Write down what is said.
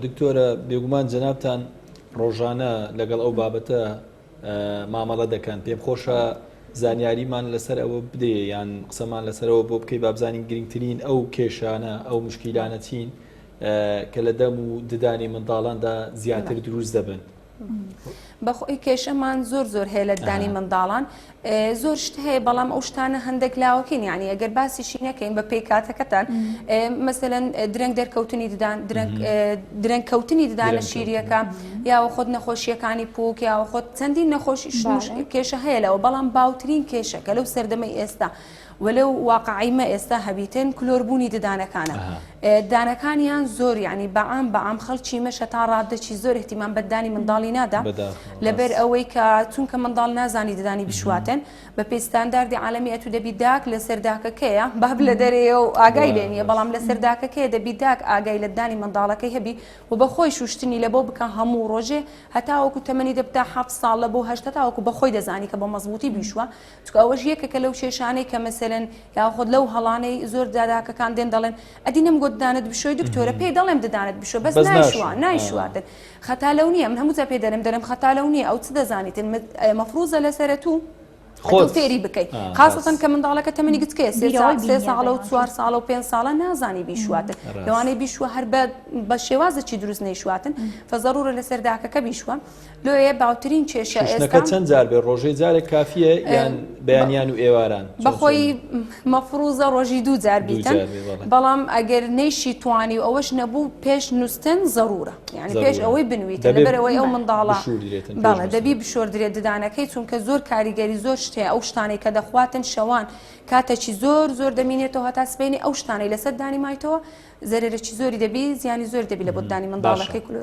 دکتۆرە بێگومان جەنابتان ڕۆژانە لەگەڵ ئەو بابەتە مامەڵە دەکەن پێم خۆشە زانیاریمان لەسەر ئەوە بدێ یان قسەمان لەسەرەوە بۆ بکەی بابزانین گرنگترین ئەو کێشانە ئەو مشکیلانە چین کە لە دەم و ددانی منداڵاندا زیاتر دروست دەبن بەخۆی کێشەمان زۆر زۆر هەیە لە دانی منداڵان زۆر شت هەیە بەڵام ئەو شتانە هەندێک لاوەکەین یعنی ئەگەر باسیشی نەکەین بە پێی کاتەکەتان مەسەن درەنگ دەرکەوتنی ددان درەنگ کەوتنی ددانە شیریەکە یاوە خۆت نەخۆشیەکانی پوک یاوە خۆت چەندین نەخۆش کێشە هەیە لەوە بەڵام باوترین کێشەکە لەو سەردەمەی ئێستا وە لەو واقعەی مە ئێستا هەبیتن کلۆر بوونی ددانەکانە دانەکانیان زۆر یانی بە عام بە عام خەڵکی مەشە تا ڕاددەچی زۆر احتیمام بە ددانی منداڵی نادا لەبەر ئەوەی کە چونکە منداڵ نازانی ددانی بشواتن بە پێی ستانداردی عالمی ئەتو دەبی داک لە سەرداکەکەیە باب لە دەرەیە و ئاگای لێ نیە بەڵام لە سەرداکەکەیە دەبی داک ئاگای لە ددانی منداڵەکەی هەبی و بە خۆی شوشتنی لە بۆ بکە هەموو ڕۆژێ هەتاوەکو تەمەنی دەبتە حەفت ساڵ لە بۆ هەشت هەتاوەکو بە خۆی دەزانی کە بە مەزبووتی بیشوە چونکە ئەوەش یەکێکە لەو کێشانەی کە مەسەلەن یاخود لەو هەڵانەی زۆر داداکەکان دێن دەڵێن ئەدی نەم گۆت دانت بشۆی دکتۆرە پێی دەڵێم ددانت بشۆ بەس بەس نایشوە ناشوە. آه. نایشواتن خەتا لەو نییە من هەمووجا پێ دەرم دەرم خەتا لەو نییە ئەو چ دەزانیتن مت- ئە، مەفروزە لەسەرە تو تۆ خۆت. فێری بکەی آه، خاستەن بەس. کە منداڵەکە تەمەنی گچکەیە سێ بیرەوەی سا- سێ بینیە ساڵە و دەگەڵ چوار ساڵە و پێنج ساڵە نازانی بیشواتن ڕاست. لەوانەیە بیشوە هەر بە بە شێوازێکی دروست نەیشواتن فزەرورە لەسەر داکەکە بیشوە لۆیێ باوترین کێشە ئێستا شوشتنەکە چەند جار بێ ڕۆژێ جارێک کافیە یان بەیانیان و ئێواران چۆن بە خۆی چۆنی؟ مەفروزە ڕۆژی دوو جار دوو بیتن جار بێ بەڵێ بەڵام ئەگەر نەیشی توانی و ئەوەش نەبوو پێش نووستن ضرورە یعنی پێش ضرورە. ئەوەی بنویتن دەبێ لەبەر ئەوەی ئەو بەڵێ. منداڵە بشوردرێتن پێش بەڵێ نووستن. دەبی بشۆردرێت ددانەکەی چونکە زۆر کاریگەری زۆر شت هەیە ئەو شتانەی کە دەخواتن شەوان کاتەکی زۆر زۆر دەمینێتەوە هەتا سبەینێ ئەو شتانەی لەسەر دانی مایتەوە زەرەرەکی زۆری دەبی زیانی زۆر دەبی لە بەددانی باشە. منداڵەکەی کلۆ